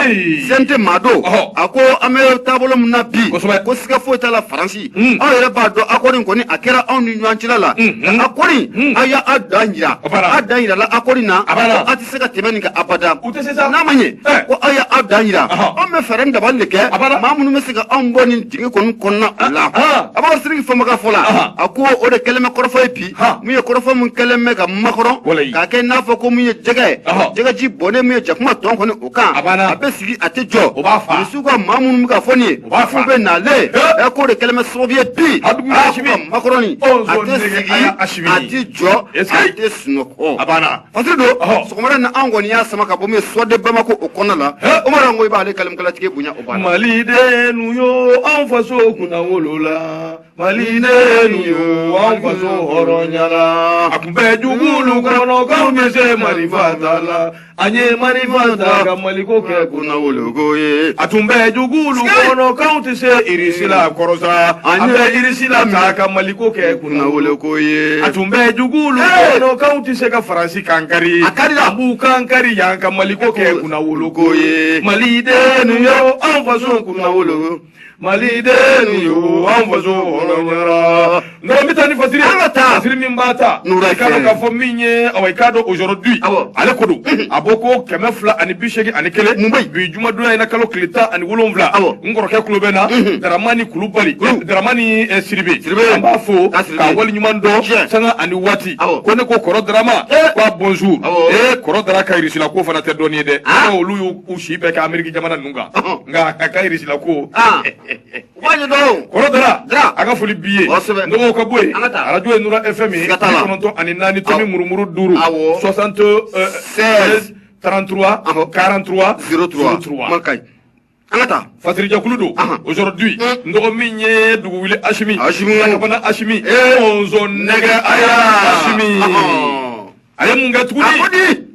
fɛn tɛ maa don a ko an bɛ taabolo min na bi ko siga foyi t'a la faransi aw yɛrɛ b'a dɔn accord kɔni a kɛra anw ni ɲɔgɔn cɛla la ko accord in a y'a dan jira a dan jirala accord in na ko a tɛ se ka tɛmɛ nin kan abada n'a ma ɲɛ ko a y'a dan jira anw bɛ fɛɛrɛ ni dabali de kɛ maa minnu bɛ se ka anw bɔ nin dingɛ kɔni kɔnɔna o la abubakar sidiki fɔnba ka fɔ la a ko o de kɛlen bɛ kɔrɔfɔ ye bi Han! Min ye kɔrɔfɔ min kɛlen bɛ ka makɔrɔn. Walayi. K'a kɛ i n'a fɔ ko min ye jɛgɛ ye. Ɔhɔ! Jɛgɛji bɔnnen min ye jakuma tɔn kɔni o kan. A banna! A bɛ sigi a tɛ jɔ. O b'a fa. Irisiw ka maa minnu bɛ ka fɔ nin ye. O b'a fa. K'u bɛ nalen. He! Ɛ k'o de kɛlen bɛ sababu ye bi. Abudu Asimi! Aa ko ka makɔrɔni. Ɔ nson! A tɛ sigi. Nege aya Asimi! A tɛ jɔ. Est ce que. A tɛ sunɔgɔ. A banna! Fasiru don. Ɔhɔ! Sɔgɔmada in na anw kɔni y'a sama ka bɔ min ye Soir de Bamako o kɔnɔna la. He! Umaru an ko i b'ale kalimukalatigi bonya o banna. Malidennu yo anw faso kunnawolo la. Malidenw yo an faso hɔrɔnya la a tun bɛ jugulu kɔnɔ k'anw tɛ se marifa ta la an ye marifa ta ka maliko kɛ kunnawoloko ye a tun bɛ jugulu kɔnɔ k'anw tɛ se irisila kɔrɔsa an ye irisila ta ka maliko kɛ kunnawoloko ye a tun bɛ jugulu kɔnɔ k'anw tɛ se ka faransi kan kari a kari la b'u kan kari yan ka maliko kɛ kunnawoloko ye malidenw yo an faso kunnawolo mali den yo an faso hɔrɔnyara nka an bɛ taa ni fasiri an ka taa fasiri min b'a ta Nura i k'a dɔn Tiɲɛ. k'a fɔ min ye awa i k'a dɔn aujourd'hui Awɔ. ale ko don a bɔko kɛmɛ fila ani bi seegin ani kelen Mun bɛ yen? bi jumadonya in na kalo tile tan ani wolonwula Awɔ. n kɔrɔkɛ tulo b'an na daramani kulubali Kulu. daramani eh, siribe Siribe. an b'a fo K'a siribe. k'a wale ɲuman dɔn Tiɲɛ. sanga ani waati Awɔ. ko ne ko kɔrɔ darama Eh. k'a bonjour Awɔ. ee kɔrɔ dara ka irisila ko fana tɛ dɔɔnin ye dɛ Ah. olu y'u si bɛɛ kɛ ameriki jamana ninnu nka a ka irisila ko kɔrɔ dara a ka foli b'i ye dɔgɔw ka bɔ yen arajo ye nura fm ye kɔnɔntɔn ani naani tomi murumuru duuru soixante euh, seize 33 43 03 man kaɲi an ka taa fasirijɛkulu don aujourd'hui n dɔgɔ min ye dugu wuli asimi lakabana asimi nɛgɛ aya asimi a ye mun kɛ tuguni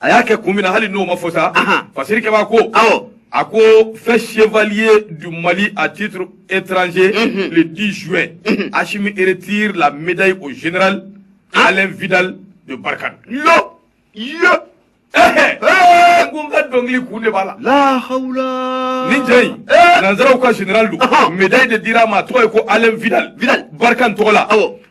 a y'a kɛ kun min na hali n'o ma fɔ sa fasirikɛba ko awɔ a ko fait chevalier du Mali à titre étranger mm -hmm. le 10 juin mm -hmm. Assimi retire la médaille au général ah. Alain Vidal de Barkhane yo yo n ko n ka dɔnkili kun de b'a la lahawla nin cɛ in nanzaraw ka général don médaille de dira a ma a tɔgɔ ye ko Alain Vidal Vidal Barkhane tɔgɔ la awɔ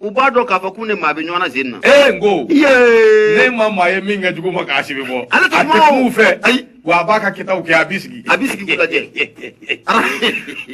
u b'a dɔn k'a fɔ k'u ni maa bɛ ɲɔgɔn na zen na. ee n ko. yee. ne ma maa ye min kɛ jugu ma k'asimi bɔ. ale tɛ kuma o a tɛ kuma u fɛ. ayi. wa a b'a ka kɛtaw kɛ a b'i sigi. a b'i sigi k'u lajɛ.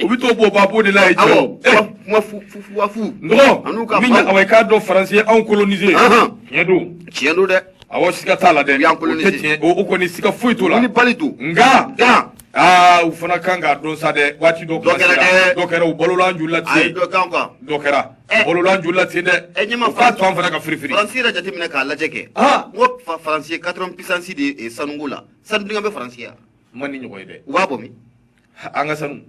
u bɛ t'o bɔ babo de la yen. awɔ kuma fu fu fu wa fu. n ko min ye awa i k'a dɔn faransi ye anw kolonize. tiɲɛ don. tiɲɛ don dɛ. awɔ siga t'a la dɛ. u y'an kolonize. o tɛ tiɲɛ o kɔni siga foyi t'o la. wulibali don. nka. nka. aa u fana kan k'a dɔn sa dɛ waati dɔ. dɔ kɛra dɛ. dɔ kɛra u balola an joli la ten. ayi dɔ kɛra an kan. dɔ kɛra. balola an joli la ten dɛ ɛ ɲɛma u k'a to an fana ka firifiri faransi yɛrɛ jateminɛ k'a lajɛ kɛ Ah. n ko fa- faransi ye quatrième puissance de ye eh, sanuko la sanu dingɛ bɛ faransi an ma nin ɲɔgɔn ye dɛ u b'a bɔ min an ka sanu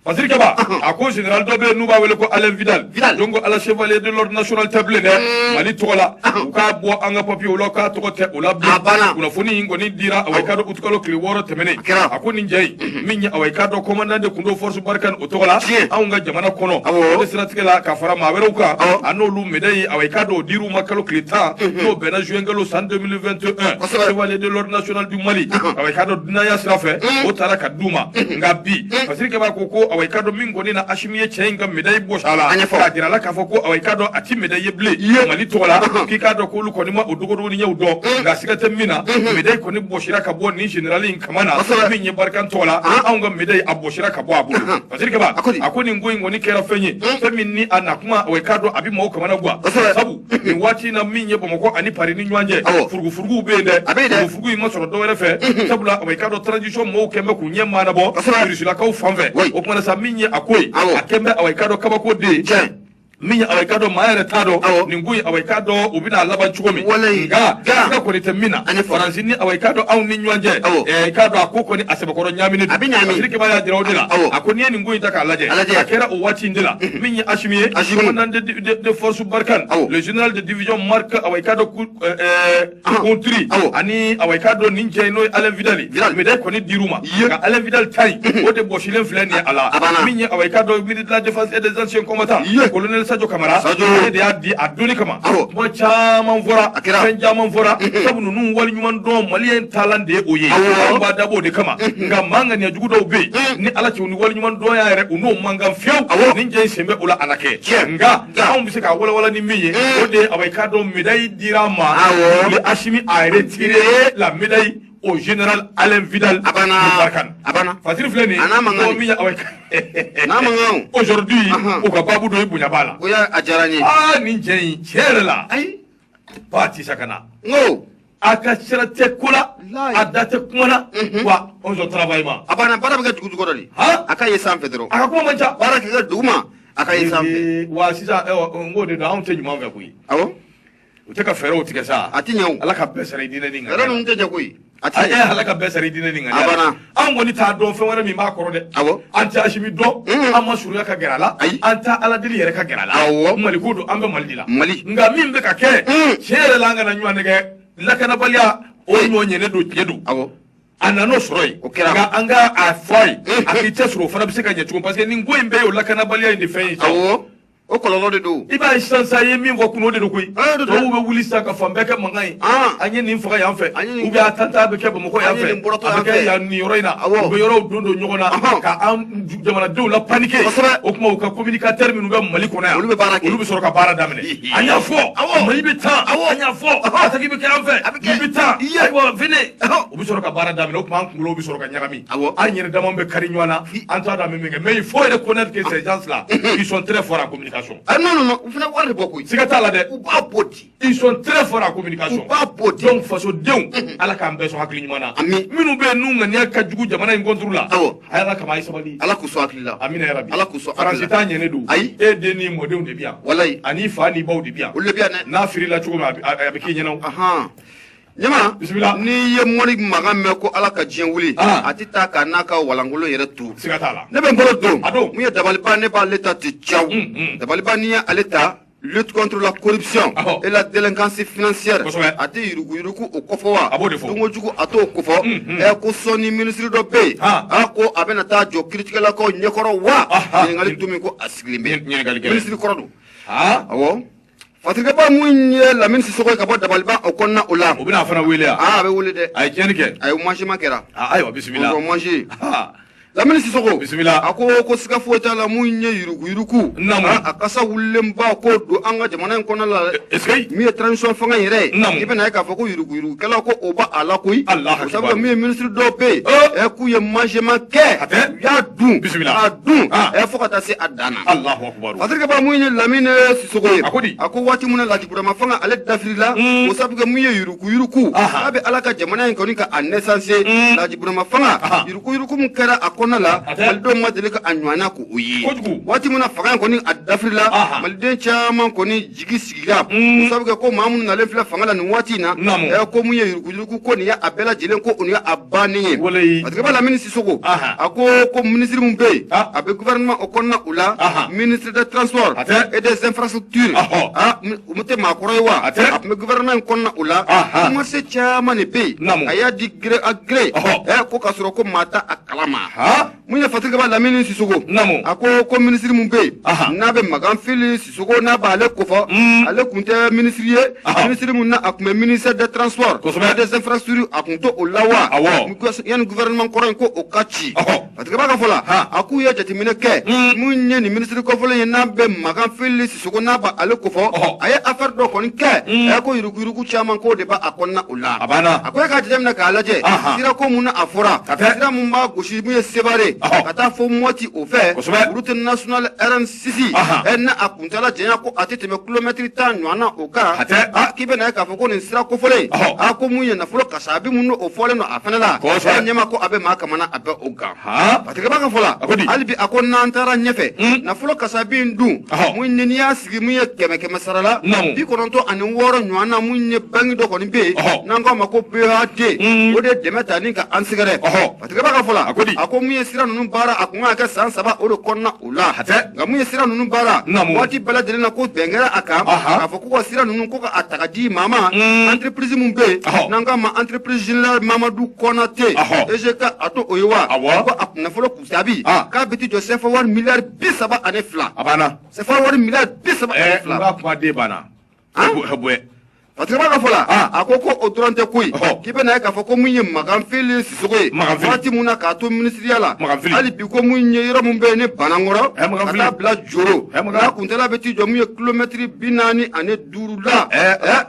fasirikɛba a ko general dɔ bɛ yen n'u b'a wele ko alain vidal Vidal. donc ale chevalier de l'ordre national tɛ bilen dɛ mali tɔgɔ la u k'a bɔ an ka papiyew la u k'a tɔgɔ tɛ o la bilen A banna. kunnafoni in kɔni dira awa i k'a dɔn utukalo tile wɔɔrɔ tɛmɛnen kɛra. a ko nin cɛ in min ye awa i k'a dɔn commandant de tun don force Barkhane o tɔgɔ la tiɲɛ anw ka jamana kɔnɔ o de siratigɛ la ka fara maa wɛrɛw kan a n'olu médaille awa i k'a dɔn o dir'u ma kalo tile tan n'o bɛnna juin kalo san 2021 kosɛbɛ chevalier de l'ordre national du mali awa i k'a dɔn dunanya sira fɛ o taara ka d'u ma nka bi fasirikɛbaa ko ko awa i k'a dɔn min kɔni na asimi ye cɛ in ka médaille bɔsi a la a ɲɛfɔ k'a jira a la k'a fɔ ko awa i k'a dɔn a tɛ médaillé ye bilen mali tɔgɔ la k'i k'a dɔn k'olu kɔni ma o dogodogoniɲɛw dɔn nka siga tɛ min na médaille kɔni bɔsira ka bɔ nin general in kama na sɔrɔ min ye barikani tɔgɔ la anw ka medayi bɔsira ka bɔ a bolo parce que kaba a ko nin ko in kɔni kɛra fɛn ye fɛn min ni a na kuma awa i k'a dɔn a bɛ mɔgɔw kamanagwan sabu nin waati na min ye bamakɔ ani pari ni ɲɔgɔn cɛ furugufuruguw bɛ yen dɛ furugufurugu in ma sɔrɔ dɔwɛrɛ fɛ sabula awa i k'a dɔn transition mɔgɔw kɛn bɛ k'u ɲɛ maanabɔ irisilakaw fan fɛ o tuma sa min ye a ko ye a kɛn bɛ awa i k'a dɔn kabako den min ye awa i k'a dɔn maa yɛrɛ t'a dɔn nin ko in awa i k'a dɔn u bɛna laban cogo min nka ka kɔni tɛ min na ani faransi ni awa i k'a dɔn anw ni ɲɔgɔn cɛ ɛɛ k'a dɔn a ko kɔni a sɛbɛkɔrɔ ɲaamini don misiri kiba y'a jira o de la a ko n'i ye nin ko in ta k'a lajɛ a kɛra o waati in de la min ye asimi ye commandant de force barkhane le général de division marc awa i k'a dɔn conruyt ani awa i k'a dɔn nin cɛ n'o ye alain vidali médaille kɔni dir'u ma nka alain vidali ta in o de bɔsilen filɛ nin ye a la min ye awa i k'a dɔn ministre de la défense et des anciens combattants colonel sadio kamara ale de y'a di a donni kama kuma caman fɔra fɛn caman fɔra sabu ninnu waleɲuman dɔn maliyɛn taalan de ye o ye anw b'a dabɔ o de kama nka maa ŋaniya jugu dɔw bɛ yen ni ala cɛ u ni waleɲuman dɔn y'a yɛrɛ u n'o man kan fiyewu nin cɛ in sen bɛ o la a na kɛ nka nka anw bɛ se ka walawala ni min ye o de ye awa i k'a dɔn medayi dira a ma Awɔ. ni asimi a retiré la médaille au général alain vidal A banna. de barkhane A banna. fasiri filɛ nin ye A n'a mankan de. mɔgɔ min ye abayi N'a mankan o. aujourd'hui Ahan. o ka babu dɔ ye bonya b'a la o y'a a diyara n ye aa nin cɛ in tiɲɛ yɛrɛ la ayi ba tisa ka na n ko a ka sira tɛ ko la a da tɛ kuma na wa o sɔrɔ travail ma a banna baara bɛ kɛ dugu jukɔrɔ de a ka ye sanfɛ dɔrɔn a ka kuma man ca baara bɛ kɛ duguma a ka ye sanfɛ wa sisan n k'o de don anw tɛ ɲuman fɛ koyi awɔ u tɛ ka fɛɛrɛw tigɛ sa a tɛ ɲɛ o ala ka bɛɛ sara i diinɛ n'i ŋaniya la fɛɛrɛ ninnu tɛ ɲɛ koyi a tɛ ɲɛ ala ka bɛɛ sara i diinɛ n'i ŋaniya la a banna an kɔni t'a dɔn fɛn wɛrɛ min b'a kɔrɔ dɛ awɔ an tɛ asimi dɔn mm. an ma surunya ka gɛrɛ a la ayi an t'a ala deli yɛrɛ ka gɛrɛ a la awɔ mali ko don an bɛ mali de la mali nka min bɛ ka kɛ mm. tiɲɛ yɛrɛ la an kana ɲɔgɔn nɛgɛn lakanabaliya o ɲɔgɔn ɲɛnɛ don tiɲɛ don awɔ a nana o sɔrɔ yen o kɛra nka an ka a fɔ a ye mm. a k'i cɛsiri o fana bɛ se ka ɲɛ cogo parce que nin ko in bɛɛ ye o lakanabaliya in de fɛn ye awɔ o kɔlɔlɔ de don i b'a ye sisan sa ye min fɔ kunun o de don koyi tubabuw bɛ wuli sisan ka fan bɛɛ kɛ mankan ye an ye nin faga yan fɛ u bɛ attentat bɛ kɛ bamakɔ yan fɛ a bɛ kɛ yan nin yɔrɔ in na u bɛ yɔrɔw don don ɲɔgɔn na ka an jamanadenw la panike o tuma u ka communicateurs minnu bɛ mali kɔnɔ yan olu bɛ baara kɛ olu bɛ sɔrɔ ka baara daminɛ an y'a fɔ mali bɛ tan an y'a fɔ attaque bɛ kɛ an fɛ nin bɛ tan ayiwa venez u bɛ sɔrɔ ka baara daminɛ o tuma an kunkolo bɛ sɔrɔ ka ɲagami awɔ an yɛrɛ dama bɛ kari ɲɔgɔn na an t'a dɔn an bɛ min kɛ mais il faut reconnaître que ces gens là ils sont très forts en communication. ah non non non u fana wari de bɔ koyi. siga t'a la dɛ. u b'a bɔ di. ils sont très forts en communication. u b'a bɔ di. donc fasodenw. ala k'an bɛɛ sɔn hakili ɲuman na. amina minnu bɛ yen n'u ŋaniya ka jugu jamana in contre la. awɔ a y'ala kama a ye sabali. ala k'u sɔn hakili la. amina yarabi. ala k'u sɔn hakili la. faransi ta ɲɛnen don. ayi e den n'i mɔdenw de bɛ yan. walayi ani i fa n'i baw de bɛ yan. olu de bɛ yan dɛ. n'a firila cogo min a bɛ k'i ɲɛna o. jama bisimila n'i ye mɔni mankan mɛn ko ala ka diɲɛ wuli ah. a tɛ taa k'a n'a ka walankolon yɛrɛ to siga t'a la ne bɛ n bolo don a don mun ye dabaliba ne b'ale ta ti caw mm, mm. dabaliba n'i ye ale ta lutte contre la corruption Aho. et la délinquance financière Kosɛbɛ. a tɛ yuruguyurugu o kofɔ wa A b'o de fɔ. dunkojugu a t'o kofɔ Mm, mm. ɛ ko sɔɔni minisiri dɔ bɛ yen Ah. a ko a bɛna taa jɔ kiritigɛlakaw ɲɛkɔrɔ wa Aha. ɲininkali dun min ko a sigilen bɛ Ɲin- ɲininkali gɛlɛn. minisiri kɔrɔ don Ah, awɔ Fa terikɛba min ye lamini sisogo ka bɔ dabaliba o kɔnɔna o la u bɛna fana wele a bɛ wele dɛ a ye cɛnɲɛni kɛ a ye mangement kɛra ayiwa bisimila ma lamini sisogo bisimila a ko ko siga foyi t'a la min ye yuruguyurugu a kasa wulenba ko don an ka jamana in kɔnɔ la min ye transition fanga yɛrɛ i bɛna ye k'a fɔ ko yuruguyurugu kɛla ko o b'a la koyi sabu min ye minisiri dɔw bɛ yen ɛ k'u ye mangement kɛ y'a dun bisimila a dun fo ka taa se a dan A terikɛba mun ye lamini sisogo ye a ko waati min na laji burama fanga ale dafirila o sabu kɛ mun ye yuruguyurugu a bɛ ala ka jamana in kɔni ka a nɛsanse laji burama fanga yuruguyurugu min kɛra a kɔnɔna la malidenw ma deli ka a ɲɔgɔnna ko o ye waati min na fanga in kɔni a dafirila maliden caman kɔni jigi sigi la ko sabu kɛ ko maa minnu nalen filɛ fanga la nin waati in na Naamu. ɛ, ko mun ye yuruguyurugu ko nin ye a bɛɛ lajɛlen ko nin ye a bannen ye Walayi. fa terikɛba lamini sisogo Aha. a ko ko minisiri min bɛ yen Ah. a bɛ gouvernement o kɔnɔna o la Aha. ministre de transport A tɛ. et des infrastructures Ahɔ. Ah, mi- u tɛ maakɔrɔ ye wa A tɛ. a tun bɛ gouvernement in kɔnɔna o la Aha. marché caman de bɛ yen Naamu. a y'a di gré à gré Ɔhɔ. ɛ, ko k'a sɔrɔ ko maa t'a kalama Ha? mun ye fa terikɛba lamini sisogo namu a ko ko minisiri min bɛ yen n'a bɛ makan fili sisogo n'a b'ale kofɔ mm. ale tun tɛ minisiri ye minisiri min na a tun bɛ ministère de transport kosɛbɛ des infrastructures a tun t'o la wa awɔ yanni gouvernement kɔrɔ in ko o ka ci fa terikɛba ka fɔ la a k'u ye jateminɛ kɛ mm. mun ye nin minisiri kɔfɔlen ye n'a bɛ makan fili sogo n'a b'ale kofɔ a ye affaire dɔ kɔni kɛ mm. a ko yuruguyurugu caman ko de b'a a kɔnɔna o la a ko e k'a jateminɛ k'a lajɛ sira ko mun na a fɔra sira mun b'a gosi mun ye sebare ka taa fo mɔti o fɛ route nationale rn six ɛ na a kuntala janya ko a tɛ tɛmɛ kilomɛtiri tan ɲɔgɔn na o kan k'i bɛ na ye k'a fɔ ko nin sira kofɔlen a ko mun ye nafolo kasabi mun o fɔlen don a fana la ɲɛma ko a bɛ maa kamana a bɛ o gan Fa terikɛba ka fɔ la halibi a ko n'an taara ɲɛfɛ nafolo kasabi don mun n'i y'a sigi min ye kɛmɛ kɛmɛ sarala bi kɔnɔntɔn ani wɔɔrɔ ɲɔgɔn na min ye banki dɔ kɔni bɛ yen n'an k'a ma ko BOAD o de dɛmɛ ta ni ka an sɛgɛrɛ fa terikɛba ka fɔ la a ko mun ye sira ninnu baara a tun ka kɛ san saba o de kɔnɔna O la nka mun ye sira ninnu baara waati bɛɛ lajɛlen na ko bɛn kɛra a kan k'a fɔ ko ka sira ninnu ko k'a ta k'a di maa ma mm. entreprise min bɛ yen n'an k'a ma entreprise générale Mamadu Kɔnate EGK a t'o ye wa ko a nafolo kasabi ah. k'a bɛ t'i jɔ CFA wari miliyari bi saba ani fila CFA wari miliyari bi saba ani eh, fila. Patba ka fɔ la a ko ko o dɔrɔn tɛ ko k'i bɛna na k'a fɔ ko min ye makan fili sisogo ye waati min na k'a to minisiriya la hali bi ko min ye yɔrɔ min bɛ yen ni banankɔrɔ ka t'a bila joro a kuntaala bɛ t'i jɔ min ye kilomɛtiri bi naani ani duuru la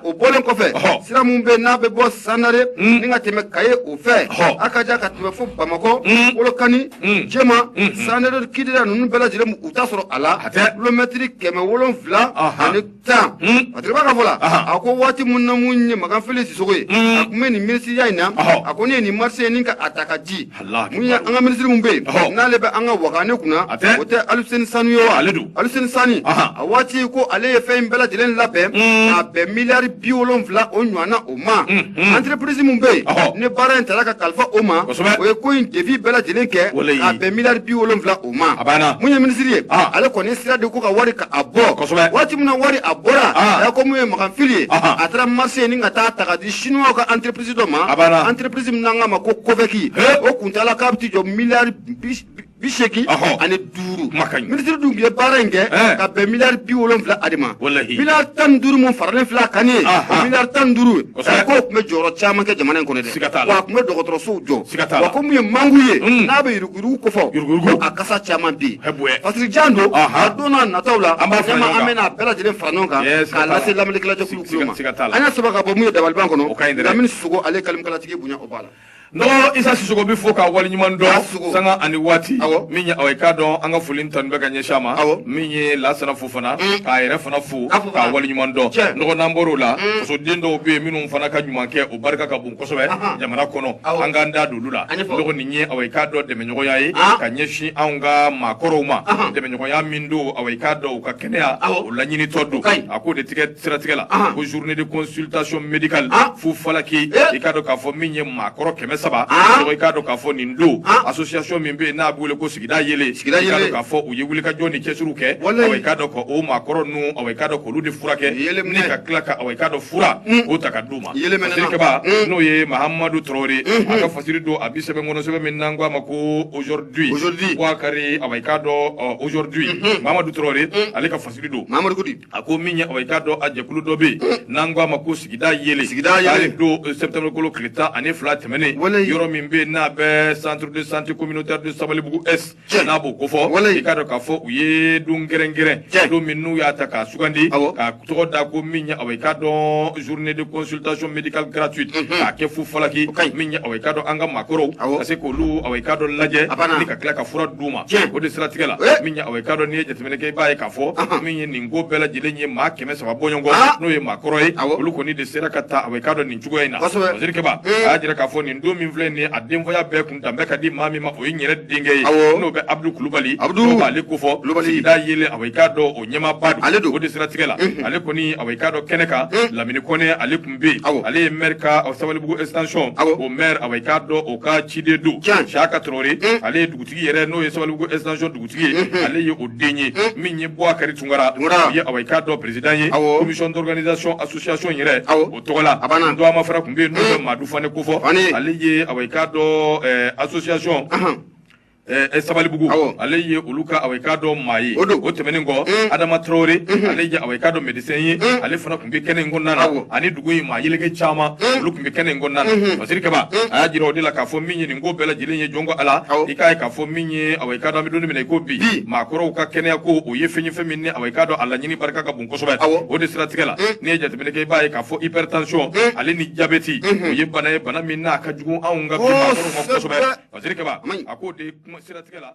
o bɔlen kɔfɛ sira min bɛ n'a bɛ bɔ sandare ni ka tɛmɛ kayi o fɛ a ka ka tɛmɛ fo bamakɔ kolokani jɛma sandare kidira ninnu bɛɛ lajɛlen u taa sɔrɔ a la kilomɛtiri kɛmɛ wolonwula tan a tɛ ka fɔ la a ko waati min na mun ye makan fili sisogo ye a tun bɛ nin minisiriya in na a kɔni ye nin marché nin ka a ta ka di mun ye an ka minisiri min bɛ yen n'ale bɛ an ka waga ne kunna o tɛ aliseni sanu ye wa ale don aliseni sanu a waati ko ale ye fɛn in bɛɛ lajɛlen labɛn ka bɛn miliyari bi wolonwula o ɲɔgɔnna o ma anterepirisi min bɛ yen ne baara in taara ka kalifa o ma o ye ko in devis bɛɛ lajɛlen kɛ ka bɛn miliyari bi wolonwula o ma a banna mun ye minisiri ye ah. ale kɔni sira de ko ka wari ka a bɔ kosɛbɛ waati min na wari a bɔra ah. a ko mun ye makan fili ye ah. a taara marché nin ka taa ta ka di sinuwaw ka entreprise dɔ ma a banna entreprise min n'an k'a ma ko kovɛki o kuntaala k'a bɛ t'i jɔ miliyari bi seegin ani duuru minisiri dun ye baara in kɛ ka bɛn miliyari bi wolonwula a de ma miliyari tan ni duuru mun faralen filɛ a kan ye o miliyari tan ni duuru k'o tun bɛ jɔyɔrɔ caman kɛ jamana in kɔnɔ dɛ wa a tun bɛ dɔgɔtɔrɔsow jɔ wa ko min ye manku ye mm. n'a bɛ yuruguyurugu kofɔ a kasa caman bɛ yen parce que jan don a don n'a nataw la an b'a fɔ an bɛna a bɛɛ lajɛlen fara ɲɔgɔn kan k'a lase lamɛnnikɛlajɛkulu kulu ma an y'a sɛbɛn ka bɔ min ye dabaliban kɔnɔ lamini sisogo ale kalimukalatigi bonya o b'a la. dɔgɔ isa sisogo bɛ fo ka waleɲuman dɔn sanga ani waati min ye aw k'a dɔn an ka foli tanu bɛ ka ɲɛsin a ma min ye lasana fofana mm. k'a yɛrɛ fana fo k'a waleɲuman dɔn dɔgɔ n'an bɔr'o la mm. fasoden dɔw bɛ yen minnu fana ka ɲuman kɛ o barika ka bon kosɛbɛ jamana kɔnɔ an k'an da d'olu la dɔgɔ nin ye awa k'a dɔn dɛmɛɲɔgɔnya ye ka ɲɛsin anw ka maakɔrɔw ma dɛmɛɲɔgɔnya min don awa k'a dɔn u ka kɛnɛya o laɲinitɔ don a k'o de tigɛ siratigɛ la ko journée de consultation médicale fu falaki i k'a dɔn k'a fɔ min ye maakɔrɔ kɛmɛ saba dɔgɔ i k'a dɔn k'a fɔ nin don association min bɛ yen n'a bɛ wele ko sigida yeelen i k'a dɔn k'a fɔ u ye wulikajɔ ni cɛsiriw kɛ awa k'a dɔn ka o maakɔrɔ ninnu awa k'a dɔn k'olu de furakɛ ni ka tila ka awa k'a dɔn fura o ta ka d'u ma Sirikɛ n'o ye mahamadu traoré a ka fasiri don a bi sɛbɛn kɔnɔ sɛbɛn min n'an ko a ma ko aujourd'hui o jakari awa k'a dɔn aujourd'hui mahamadu traoré ale ka fasiri don mamadu a ko min ye awa k'a dɔn a jɛkulu dɔ bɛ n'an ko a ma ko sigida yeelen a don septembre kalo tile tan ani fila tɛmɛnen yɔrɔ min bɛ n'a bɛ centre de santé communautaire de sabalibugu cɛ n'a b'o kofɔ i k'a dɔn k'a fɔ u ye don kɛrɛnkɛrɛn don min n'u y'a ta k'a sugandi k'a tɔgɔ da ko min ye aw i k'a dɔn journée de consultation médicale gratuite k'a kɛ fu falaki min ye aw i k'a dɔn an ka maakɔrɔw ka se k'olu aw i k'a dɔn lajɛ ni ka tila ka fura d'u ma o de siratigɛ la min ye aw i k'a dɔn n'i ye jateminɛ kɛ i b'a ye k'a fɔ min ye nin ko bɛɛ lajɛlen ye maa kɛmɛ saba bɔɲɔgɔn n'o ye maakɔrɔ ye olu kɔni de sera ka ta aw i k'a dɔn nin cogoya in na Waziri Kɛba a y'a jira k'a fɔ nin don min filɛ nin ye a denfaya bɛɛ kun Dan bɛ ka di maa min ma o ye n yɛrɛ denkɛ ye awɔ n'o bɛ Abdu Kulubali Abdu n'o b'ale kofɔ Kulubali sigida yeelen awɔ i k'a dɔn o ɲɛmaaba don ale don o de siratigɛ la unhun ale kɔni awɔ i k'a dɔn kɛnɛ kan un Lamini Kɔnɛ ale tun bɛ yen awɔ ale ye maire ka ɔ Sabalibugu extension awɔ o maire awɔ i k'a dɔn o ka ciden don tiɲɛ Siaka Traore un ale ye dugutigi yɛrɛ n'o ye Sabalibugu extension dugutigi ye unhun ale ye o den ye un min ye Buwakari Tunkara Tunkara o ye awɔ i k'a dɔn président ye awɔ commission d'organisation association yɛrɛ awɔ tɔgɔ la tɔgɔma fana tun bɛ yen n'o bɛ maadu fane kofɔ ale ye awa i k'a dɔn association sabalibugu ale ye olu ka awa i k'a dɔn maa ye o tɛmɛnen kɔ adama tarawele ale ye awa i k'a dɔn médecin ye ale fana tun bɛ kɛnɛ in kɔnɔna na ani dugu in maa yeleke caman olu tun bɛ kɛnɛ in kɔnɔna na masiri kaba a y'a jira o de la k'a fɔ min ye nin ko bɛɛ lajɛlen ye jɔn ko ala i k'a ye k'a fɔ min ye awa i k'a dɔn an bɛ don min na i ko bi maakɔrɔw ka kɛnɛya ko o ye fɛn ye fɛn min ni awa i k'a dɔn a laɲini barika ka bon o de siratigɛ la n'i ye jateminɛ kɛ i b'a ye k'a fɔ hypertension ale ni jabɛti o ye bana ye bana min n'a ka jugu anw ka bi maakɔrɔw ma kosɛbɛ Waziri Kɛba a k'o de siratigɛ la